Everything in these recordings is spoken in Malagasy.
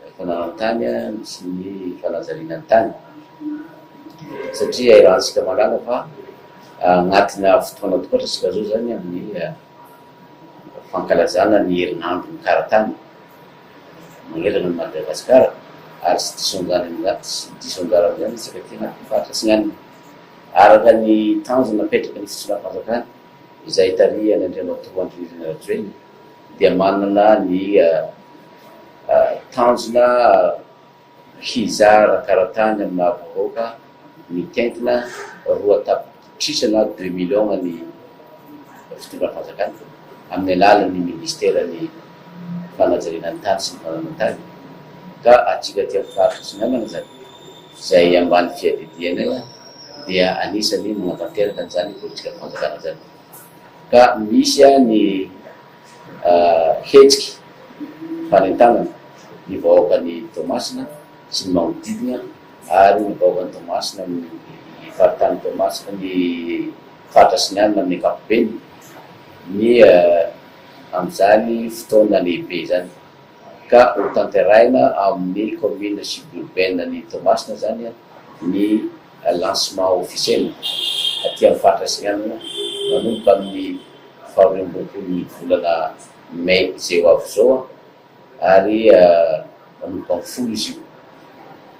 ny fananan-tany sy ny fanajariana ny tany satria ahirantsika mahalala fa anatina fotoana tokoa antsika zao zany amin'ny fankalazana ny herinandro ny karatany manerana ny Madagasikara ary tsy diso anjanany tsy diso anjarany zany isika aty anatin'ny faritra atsinanana araka ny tanjona apetraky ny fisoronam-panjakana izay tarihan'Andriamatoa Andry Nirina Rajoelina. dia manana ny tanjona hizara karatany amin'ny maha vahoaka mitentina roa tapitrisana, deux millions, ny fitondran'ny fanjakana amin'ny alalan'ny minisiteran'ny fanajariana ny tany sy ny fananana tany ka antsika aty amin'ny faritra Atsinanana izany izay ambany fiadidiany dia anisany manatanteraka an'izany politikan'ny fanjakana izany. ka misy ny hetsiky fanentanana ny vahoakan'i Toamasina sy ny manodidina ary ny vahoakan'i Toamasina amin'ny faritany Toamasina ny faritra sy ny alina amin'ny ankapobeny ny amin'izany fotoana lehibe izany ka ho tanterahina ao amin'ny commune suburbaine an'i Toamasina izany ny Lancement officiel aty amin'ny faritra Atsinainana manomboka amin'ny faharoa amby roapolon'ny volana Mai izay ho avy izao ary manomboka amin'ny folo izy io.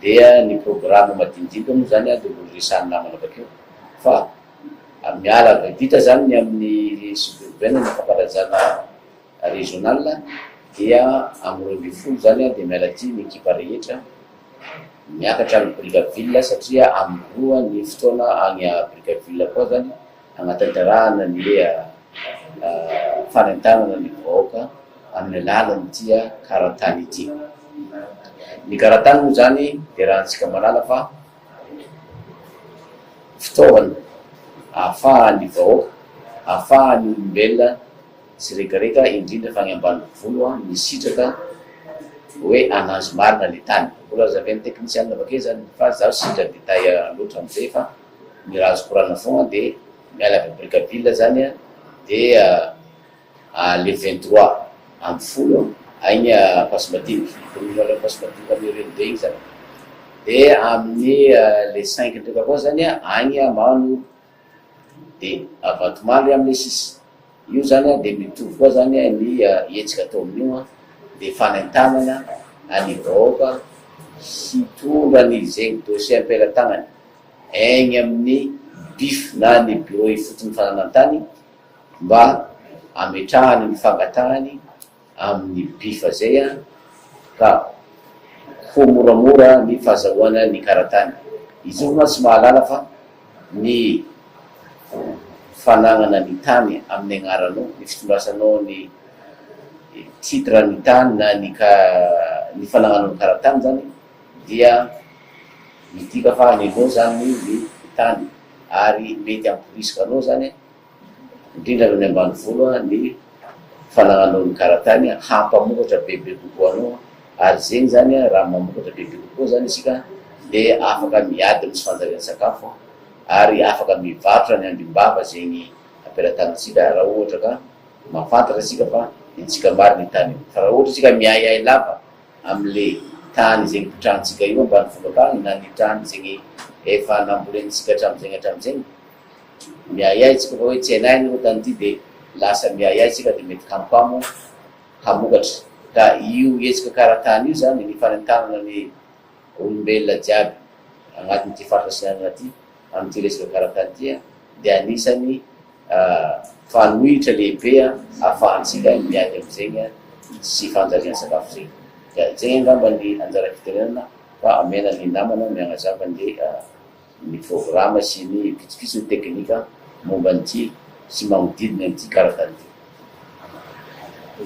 Dia ny programa madinidinika moa izany dia horesahan'ny namana avy akeo fa miala avy adita izany ny amin'ny suburbaine ny fankalajana Régional dia amin'ny roa ambin'ny folo izany dia miala aty ny ekipa rehetra miakatra any Brickaville satria amin'ny roa ny fotoana any Brickaville koa izany hanatanterahana ny fanentanana ny vahoaka amin'ny alalan'ity karatany ity. Ny karatany moa izany dia raha antsika malala fa fitaovana ahafahan'ny vahoaka, ahafahan'ny olombelona Tsiregarega indrindra fa any ambanivolo an ny sitraka oe ananjy marina le tany. Mbola lazaven'ny teknisianina avake zany fa zaho tsy indra détail loatra amzay fa ny raha azoko rarana fogna de miala avy am Brickaville zany an de a le vingt trois amby folo agny Ampasimadinika ny commune reo Ampasimadinika am Ireny be igny zany de amin'ny le cinq ndraika koa zany an agny Mano dia avatomaly am le sisa io zany a dia mitovy koa zany a ny hetsika atao amin'io a dia fanentanana any vahoaka hitondra ny zegny dossier ampelatagnany egny amin'ny bif na ny bureau ifotony fananantany mba ametrahany ny fangatahany amin'ny bifa izay an, ka ho moramora ny fahazahoana ny karatany. I Joby mantsy mahalala fa ny fanagnana ny tany amin'ny agnaranao, ny fitondrasanao ny titre ny tany na ny ka ny fanagnanao ny karatany izany dia midika fa an'ilao izany ny tany ary mety hamporisika anao izany an, indrindra any amin'ny ambanivolo, ny fanananao ny karatainy hampamokatra bebe kokoa anao ary zegny zany raha mamokatra bebe kokoa zany isika de afaka miady misy fanjarian'ny sakafo ary afaka mivarotra ny ambim-bava zegny ampelatanantsika raha ohatra ka mafantatra isika fa intsika marina io tany io fa raha ohatra isika miahiahy lava amle tany zegny pitrantsika io ambanivolo akagny na ny tany zegny efa nambolentsika hatramizegny hatramizegny Miahiahy tsika fa hoe tsy hainay ny ota an'ity dia lasa miahiahy tsika dia mety hampamo hamokatra ka io hetsika karatany io zany ny fanentanana ny olombelona jiaby agnatin'ity faritra sinanana ty amin'ity resaka karatany ty dia anisany fanohitra lehibe afahantsika miady am'zegny tsy fanjarian sakafo zegny dia zegny angamba ny anjara fitenenana fa amena ny namana miagnazava ny ny programa sy ny pitsopitsony teknika momba an'ity sy manodidina an'ity karazany ity.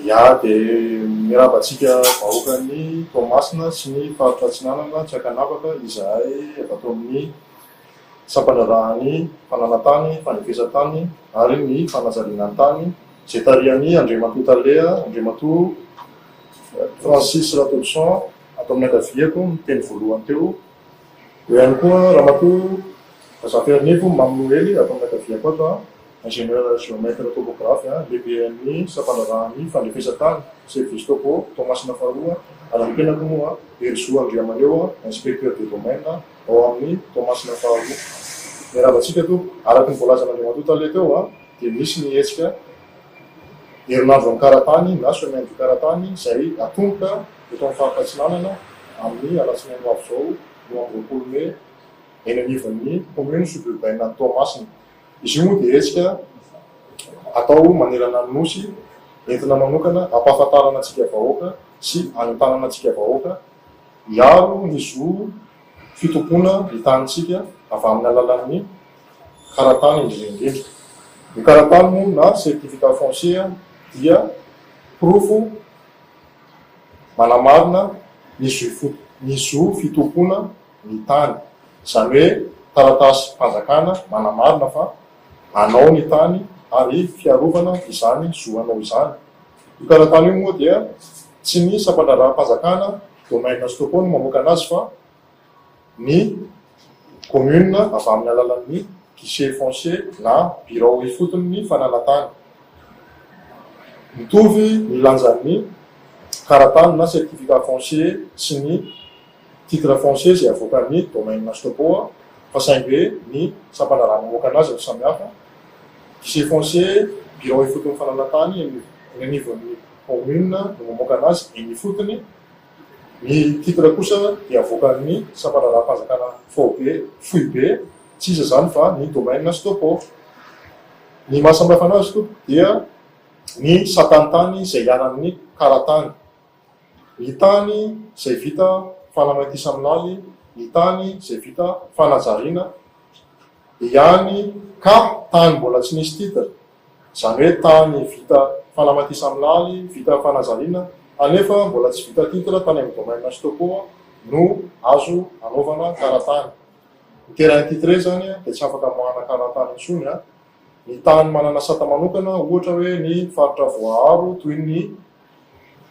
Ya dia mirava antsika vahoakan'i Toamasina sy ny faritra Atsinanana tsy ankanavaka izahay avy ato amin'ny sampandraharahan'ny fananantany, fanefesantany ary ny fanajarinantany izay tarihan'i Andriamatoa Tale, Andriamatoa Francis Ratodison ato amin'ny ankaviako niteny voalohany teo. Eo ihany koa Ramatoa Razafiharinevo Mamy Noely ato amin'ny ankaviako ato, Ingénieur Géomètre Topographe, Lehiben'ny Sampandraharahan'ny Fandrefesan-tany, Service Topo, Toamasina Faharoa, ary ny tenako moa Herizo Andriamahaleo, Inspecteur des Domaines ao amin'ny Toamasina Faharoa. Miarahaba antsika Tompoko. Araka ny voalazan'Andriamatoa Tale teo dia misy ny hetsika Herinandro Ankaratany na Semaine du Karatany izay atomboka. eto amin'ny faritra Atsinanana amin'ny alatsinainy ho avy izao roa amby roapolo mey eny anivon'ny commune suburbaine Toamasina. Izy io moa dia hetsika atao manerana ny Nosy entina manokana hampahafantarana antsika vahoaka sy hanentanana antsika vahoaka hiaro ny zo fitompoana ny tanintsika avy amin'ny alalan'ny karatany indrindra indrindra. Ny karatany moa na certificat foncier dia porofo. manamarina ny zo fitompoana ny tany, izany hoe taratasim-panjakana manamarina fa anao ny tany ary fiarovana izany zo anao izany. Io taratasy io moa dia tsy ny sampandraharaham-panjakana Domingues Toko no mamoaka an'azy fa ny Commune avy amin'ny alalan'ny Guichet Foncier na Birao Ifoton'ny Fananantany. Mitovy ny lanjan'ny Karatany na Certificat Foncier sy ny Titre Foncier izay avoakan'ny Domaine Stopo fa saingy ny Sampana raha mamoaka anazy no samihafa, Guichet Foncier, Birao Ifoton'ny Fananantany, eny anivon'ny Commune no mamoaka anazy eny ifotony Ny titre kosa dia avoakan'ny sampandraharaham-panjakana faobe, foibe, tsy iza izany fa ny domaine Stopo. Ny maha samy hafa anazy tompoko dia ny satan'tany izay hiala amin'ny karatany. Ny tany izay vita fanamaintisaminaly, ny tany izay vita fanajariana ihany ka tany mbola tsy nisy titre izany hoe tany vita fanamatisamilary, vita fanazariana, anefa mbola tsy vita titre tany amin'ny domaine sy topo no azo anaovana karatany. Ny terrain titre izany dia tsy afaka amoahana karatany intsony. Ny tany manana sata manokana, ohatra hoe ny faritra voaaro toy ny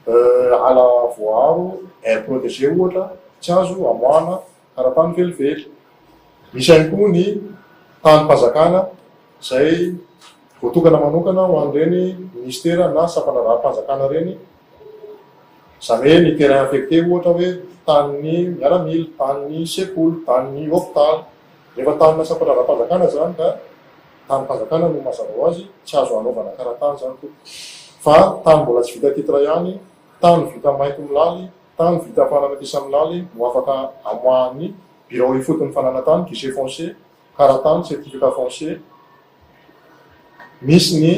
ala voaaro, aire protegée ohatra, tsy azo amoahana. ara-tany velively. Misy ihany koa ny tanim-panjakana izay voatokana manokana ho an'ireny minisitera na sampandraharaham-panjakana ireny, izany hoe ny terrain affecté ohatra hoe tanin'ny miaramila, tanin'ny sekoly, tanin'ny hopitaly. Rehefa tanina sampandraharaham-panjakana izany ka tanim-panjakana no mazava ho azy, tsy azo anaovana kara-tany izany tompoko. Fa tany mbola tsy vita titre ihany, tany vita mainty milaly, Tany vita havanana ety Saminale no afaka amoahan'ny Birao Ifotony Fananantany, Guichet Foncier, karatany, certificat foncier, misy ny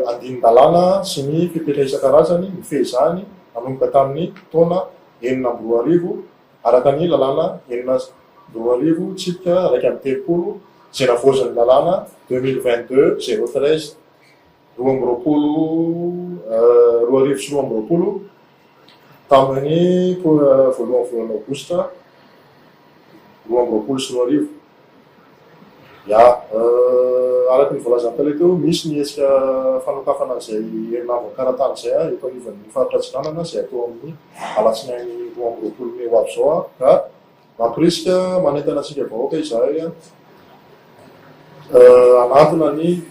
andinin-dalàna sy ny fepetra isan-karazany mifehy izany nanomboka tamin'ny taona enina amby roa arivo, araka ny lalàna enina amby roa arivo tsipika iraika amby telopolo izay navaozin'ny lalàna deux mille vingt-deux zéro treize. roa amby roapolo roa arivo sy roa amby roapolo tamin'ny voalohan'ny volana aogositra roa amby roapolo sy roa arivo. Ya, araka ny voalazan'ny tale teo, misy ny hetsika fanokafana izay herinandro an-karatany izay ah, eto anivon'ny faritra Atsinanana izay atao amin'ny alatsinainy roa amby roapolo mey ho avy izao ah, ka. Mampirisika, manentana antsika vahoaka izahay hanantona ny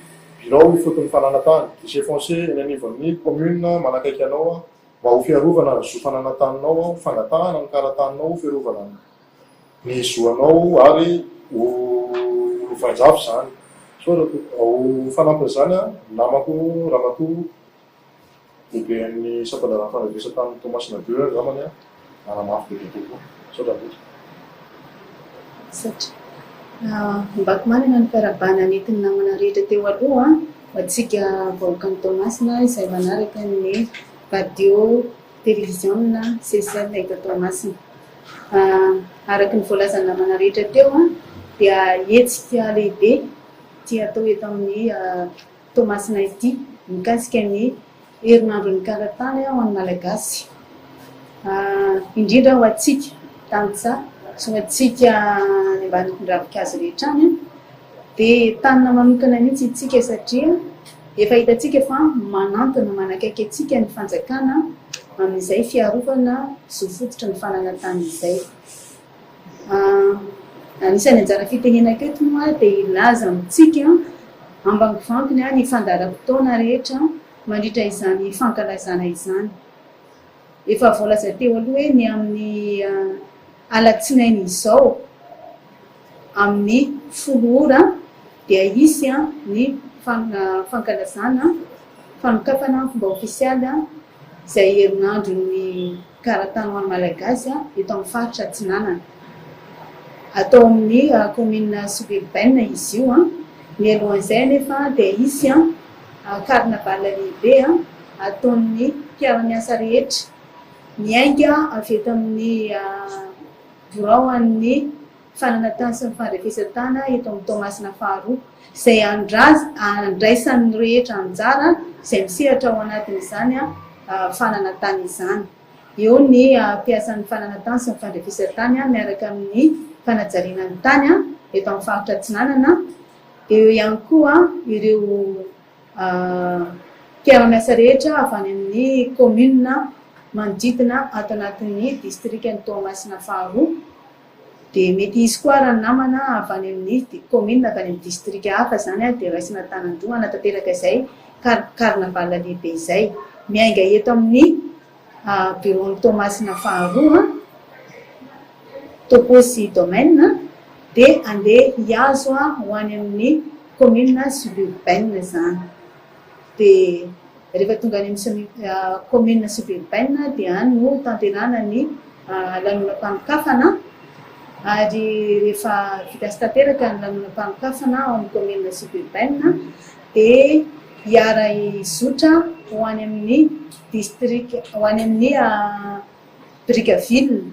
birao ifotony fananantany, guichet foncier, eny anivon'ny kaominina manakaiky anao mba ho fiarovana ny zo fananantaninao, fangatahana ny karataninao ho fiarovana ny zo anao ary ho lovain-jafy izany. Ho fanampin'izany, ny namako Ramatoa Lehiben'ny sampan-draharaha fandrevesana tany Toamasina Beur angambany a! Nanamafy bebe kokoa. Misaotra betsaka. Misaotra. Ombako manana ny fiarahabana nentin'ny namana rehetra teo aloha ho antsika vahoakan'i Toamasina izay manaraka ny radio televiziona CCL eto Toamasina. Araka ny voalazan'ny namana rehetra teo dia hetsika lehibe ity atao eto amin'ny Toamasina ity mikasika ny herinandron'ny karatany ho an'ny Malagasy, indrindra ho antsika tantsaha sy ho antsika any ambanivon-dravikazo rehetra any dia entanina manokana mihitsy isika satria efa hitantsika fa manantona manakaiky antsika ny fanjakana amin'izay fiarovana zo fototra ny fananantany izay. Anisan'ny anjara fitenenako eto moa dia hilaza amintsika ambangovangony ny fandaharam-potoana rehetra mandritra izany fankalazana izany. Efa voalaza teo aloha hoe ny amin'ny alatsinainy izao amin'ny folo ora dia hisy ny fankalazana fanokafana ny fomba ofisialy izay herinandron'ny. Gara tany ho an'ny Malagasy eto amin'ny faritra Atsinanana. Atao amin'ny kaominina sibiribaina izy io. Mialohan'izay anefa dia hisy karnavala lehibe ataon'ny mpiara-miasa rehetra miainga avy eto amin'ny biraon'ny. fanana tany sy ny fandrefesan-tana eto amin'ny Toamasina faharoa, izay handraisan'ny rehetra anjara izay misehatra ao anatin'izany fanana tany izany. Eo ny hampiasan'ny fanana tany sy ny fandrefesan-tany miaraka amin'ny fanajariana ny tany eto amin'ny faritra Atsinanana. Eo ihany koa ireo mpiara-miasa rehetra avy any amin'ny kaominina manodidina ato anatin'ny distrikan'i Toamasina faharoa. Dia mety hisy koa ary ny namana avy any amin'ny kaominina avy any amin'ny distrika hafa izany dia raisina an-tanan-droa hanatanteraka izay carnaval lehibe izay. Miainga eto amin'ny biraon'i Toamasina faharoa, Topo sy Domaine, dia handeha hihazo ho any amin'ny kaominina suburbaine izany. Dia rehefa tonga any amin'ny kaominina suburbaine dia any no tanterahana ny lanonam-panokafana ary rehefa vita sy tanteraka ny lanonam-panokafana ao amin'ny kaominina suburbaine dia hiara-hizotra ho any amin'ny distrika, ho any amin'ny birika ville.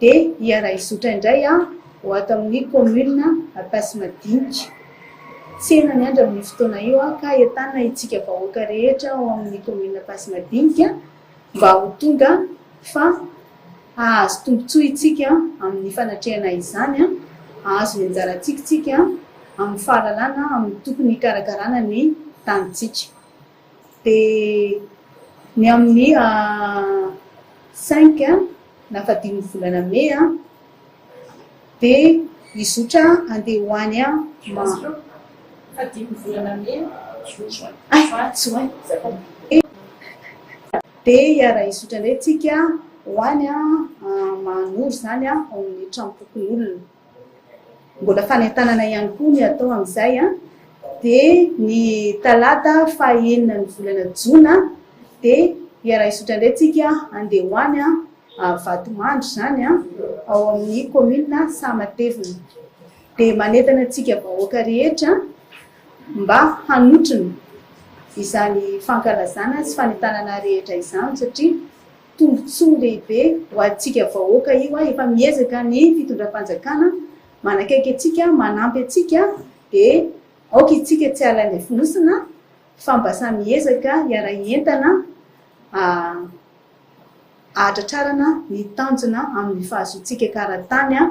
Dia hiara-hizotra indray aho ho ato amin'ny kaominina Ampasimadinika. Tsena miandry amin'io fotoana io aho ka entanina itsika vahoaka rehetra ao amin'ny kaominina Ampasimadinika mba ho tonga fa hahazo tombontsoa itsika amin'ny fanatrehana izany, hahazo ny anjarantsika itsika amin'ny fahalalana amin'ny tokony hikarakarana ny tanintsika. Dia ny amin'ny cinq na faha dimy ny volana mey dia hizotra handeha ho any Maroc. Faha dimy ny volana mey dia hiara-hizotra indray isika ho any Mahanoro izany ao amin'ny tranom-pokonolona. Mbola fanentanana ihany koa ny atao amin'izay dia ny talata fahenina ny volana jona dia hiara-hizotra indray tsika handeha ho any Vatomandry izany ao amin'ny kaominina Sahamatevina. Dia manentana antsika vahoaka rehetra mba hanotrona izany fankalazana sy fanentanana rehetra izany satria. Tombotsoa lehibe ho antsika vahoaka io a, efa miezaka ny fitondram-panjakana manakaiky antsika, manampy antsika dia aoka itsika tsy halain'ny fonosina fa mba samy hiezaka hiara-hientana ahatratrarana ny tanjona amin'ny fahazoantsika kara-tany a,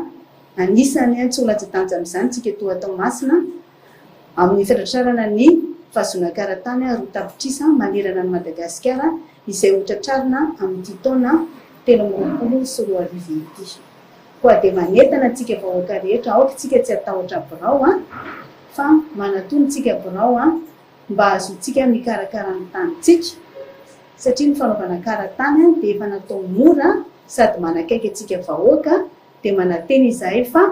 anisany tsy ho latsa-danja amin'izany tsika toa Toamasina. amin'ny fatratrarana ny fahazonan-karatany roa tapitrisa manerana an'i Madagasikara izay ho tratrarina amin'ity taona telo amby roapolo sy roa arivo ity. Koa dia manentana antsika vahoaka rehetra aoka isika tsy hatahotra birao an! fa manatona isika birao an! mba hahazoantsika mikarakara ny tanintsika satria ny fanaovana karatany dia efa natao mora sady manakaiky antsika vahoaka dia manantena izahay fa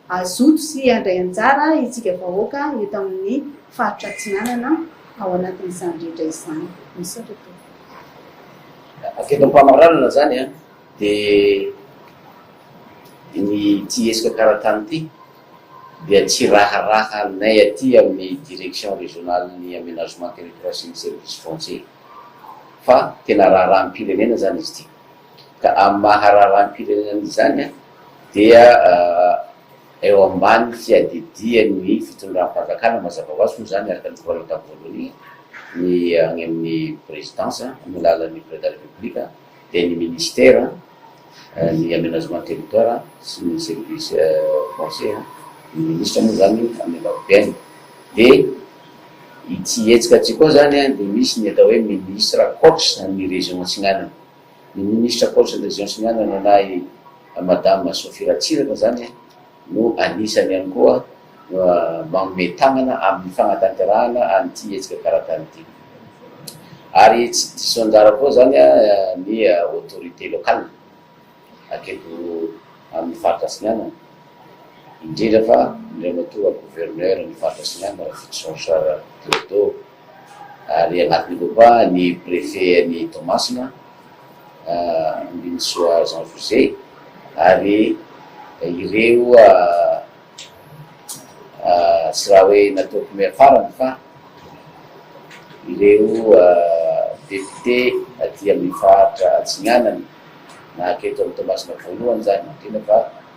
Hazoto sy handray anjara isika vahoaka eto amin'ny faritra Atsinanana ao anatin'izany rehetra izany. Misaotra tompoko. Avy eto am-pamaranana izany dia ity hetsika karatany ity dia tsy raharahanay aty amin'ny Direction Régionale-n'ny Aménagement Territoire sy ny Services Fonciers fa tena raharaham-pirenena izany izy ity. ka amin'ny maha raharaham-pirenena izany dia eo ambany fiadidian'ny fitondram-panjakana mazava ho azy moa izany araka ny tokanana tamin'ny voalohany ny any amin'ny Présidence amin'ny alalan'ny Président de la République dia ny Ministère ny Aménagement du Territoire sy ny Service Foncier ny Ministra moa izany amin'ny ankapobeny dia ity hetsika ity koa izany dia misy ny atao hoe Ministre ankoatra ny Région Atsinanana. Ny ministra Paolisy Andriazion sy ny anona nanahy Madame Sophie Ratsiraka izany no anisany ihany koa manome tanana amin'ny fanatanterahana an'ity hetsika karatany ity. Ary tsy diso anjara koa izany ny autorités locales aketo amin'ny faritra Atsinanana, indrindra fa Andriamatoa Gouverneur ny faritra Atsinanana Rafotsy Jean Charles Clodo. ary anatin'ireo koa ny Préfet an'i Toamasina, Ambinintsoa Jean José, ary ireo tsy raha hoe nataoko miafarany fa ireo Député aty amin'ny faritra Atsinanana, na aketo amin'i Toamasina voalohany izany indrindra fa.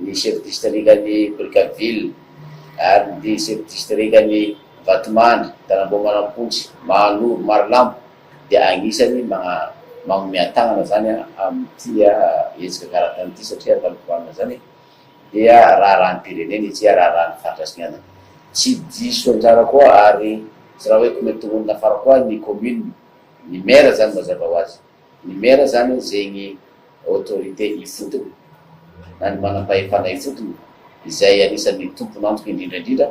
ny chef distrikan'i Brickaville ary ny chef distrikan'i Vatomandry, Tanamboamanampontsy, Mahanoro, Marolambo dia anisany manome an-tanana zany amin'ity hetsika karatany ity satria fandoavana zany dia raharaham-pirenena ity ary raharahan'ny faritra sy ny andana. Tsy diso anjara koa ary tsy raha hoe kometongonina fara koa ny commune, ny maire zany mazava ho azy. Ny maire zany hono zegny autorité ifotony na ny manam-pahefana ifotony izay anisan'ny tompon'antoka indrindra indrindra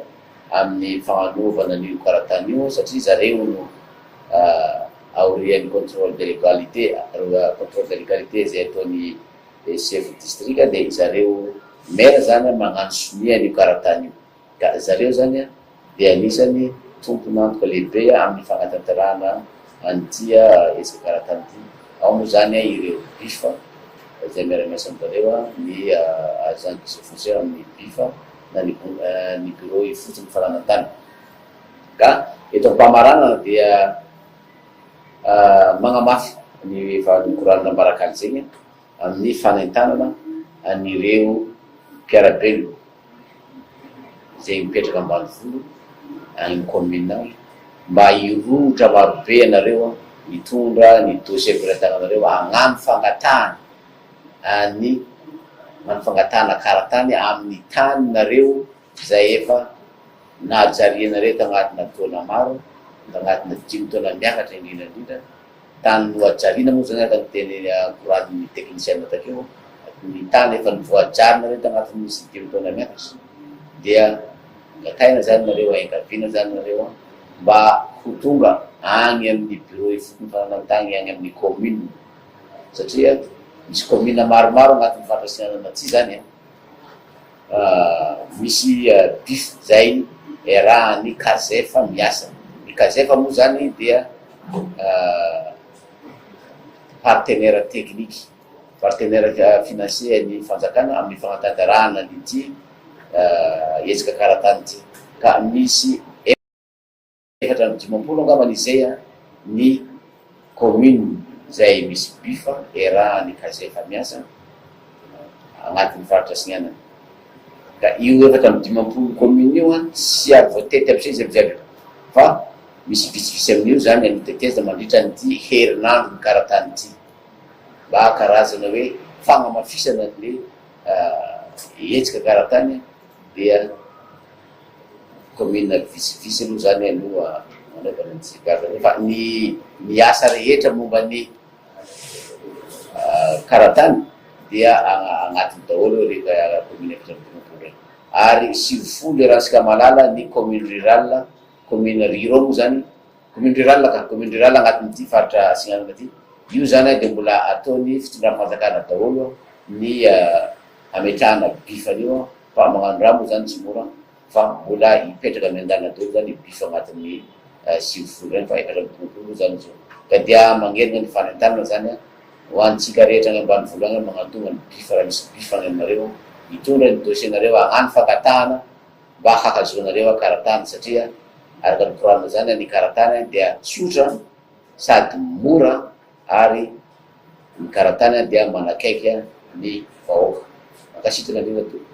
amin'ny fagnanovana an'io karatany io satria zareo hono aorian'ny contrôle de légalité contrôle de légalité zay ataon'ny chef district dia zareo maire zany magnano sonia an'io karatany io. ka ry zareo izany dia anisan'ny tompon'antoka lehibe amin'ny fanatanterahana an'ity ezaka ara-tany ity, ao moa izany ireo Bif izay miara-miasa amin-dry zareo, ny Agence des Eaux Foncières amin'ny Bif na ny Bureau ifotsin'ny fananan-tany. Ka eto am-pamaranana dia magnamafy ny valin'ny koralina Ambarak'Anjegna amin'ny fanentanana an'ireo mpiara-belona. izay mipetraka ambanivolo any communal mba hirohotra marobe ianareo mitondra ny dossier am-pelatananareo hagnano fangatahana an'ny hagnano fangatahana karatany amin'ny taninareo izay efa najarianareo tagnatina taona maro tagnatina dimy taona miakatra indrindra indrindra Tany nohajarina moa izany araka ny teny norahanin'ny teknisiana takeo, ny tany efa novoajarina reto anatin'ny sy dimy taona miakatra dia angataina izany nareo ahengaviana izany nareo mba ho tonga any amin'ny bureau ifotony fananantany any amin'ny commune satria misy commune maromaro anatin'ny fandrasinana na tsia izany an! Misy diff zay iarahan'ny kazef miasa. Ny kazef moa zany dia partenaire technique, partenaire financier ny fanjakana amin'ny fanatanterahana an'ity hetsika karatany ity ka misy. Efatra amby dimampolo angamba ny izay a! ny commune izay misy bifa iarahan'ny case efa miasa agnatin'ny faritra Sinianana ka io efatra amby dimampolo commune io a! tsy ary voatety aby izay izy aby jiaby fa misy vitsivitsy amin'io izany a! notetezina mandritra an'ity herinandro mikaratany ity mba karazana hoe fagnamafisana an'le hetsika karatany dia. Kaominina vitsivitsy aloha izany aloha nanaovana ny tsindrin-kafa fa ny ny asa rehetra momba ny karatany dia agnatiny daholo ireny kaominina efatra ambin'ny folo ireny. Ary sivifolo dia raha antsika mahalala ny kaominy rirala, kaominy ruraux moa izany, kaominy rirala ka, kaominy rirala agnatin'ity faritra Atsinanana ity. Io izany dia mbola ataon'ny fitondram-panjakana daholo ny hametrahana bif an'io. Fa magnano raha moa zany tsy mora fa mbola hipetraka miandalana daholo zany ny bus agnatin'ny sivy folo zany fa efatra amby dimampolo moa zany zao ka dia magnelina ny fanentanana zany an ho antsika rehetra any ambanivolo any magnatogna ny bus raha misy bus any aminareo hitondra ny dossier nareo hagnano fangatahana mba hahazoanareo an karatany satria araka ny koranina zany an ny karatany dia tsotra sady mora ary ny karatany dia manakaiky ny vahoaka. Mankasitraka indrindra tompoko.